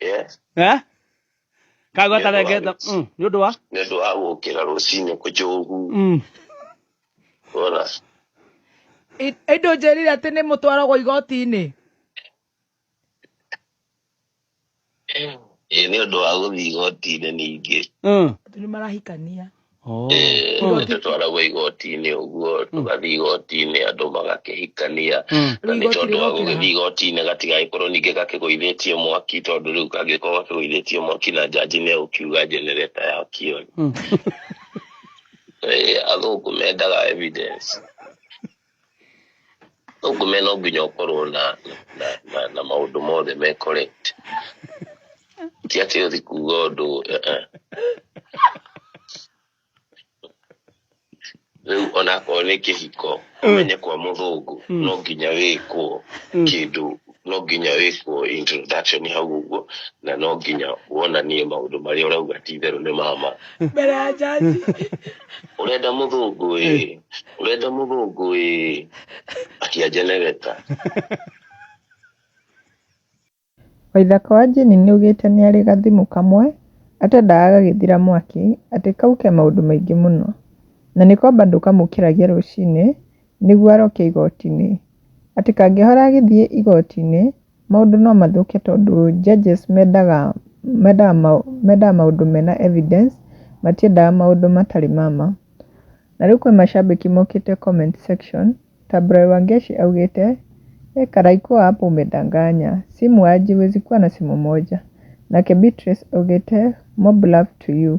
Yes. eh kagwata Nĩ ũndũ wa rengeta gũkĩ- mm nĩ ũndũ wa nĩ ũndũ wa gũkĩra rũcinĩ kũnjũgu mm wona I- Ĩndũ njĩrire atĩ nĩ mũtwaragwo igoti-inĩ. ĩ nĩ ũndũ wa gũthiĩ igoti-inĩ ningĩ mm Andũ nĩ marahikania. tũtwaragwo igoti-inĩ ũguo mm. tũgathiĩ igoti-inĩ andũ magakĩhikania mm. na nĩ tondũ wa gũgĩthiĩ igoti-inĩ gatigagĩkorwo ningĩ gakĩgũithĩtie mwaki tondũ rĩu kangĩkorwo gakĩgũithĩtie mwaki na njanji nĩ egũkiuga njenereta yakio mm. athũngũ mendaga evidence ũngume no nginya ũkorwo na na, na, na maũndũ mothe me correct ti atĩ ũthi kuga ũndũ eh, eh. rĩu onakorwo nĩ kĩhiko ũmenye kwa mũthũngũ no nginya wĩkwo kĩndũ no nginya wĩkwo introduction hau ũguo na no nginya wonanie maũndũ marĩa ũrauga ti itherũ nĩ mama mbere ya jaji ũrenda mũthũngũ ĩ ũrenda mũthũngũ ĩ akia njenegeta Waithaka wa Jane nĩaugĩte nĩarĩ gathimũ kamwe atendaga gagĩthira mwaki atĩ kau ke maũndũ maingĩ mũno na nĩko bado kamũkĩragia rũcinĩ nĩguo aroke igoti-inĩ. Atĩ kangĩhora agĩthiĩ igoti-inĩ, maũndũ no mathũke tondũ judges mendaga mendaga mendaga maũndũ mena evidence, matiendaga maũndũ matarĩ ma ma. Na rĩu kwĩ macambĩki mokĩte comment section, ta Brian Wangeci augĩte, we karai kuwa hapo umedanganya, si muuaji huwezi kuwa na simu moja. Nake Beatrice augĩte, mob love to you.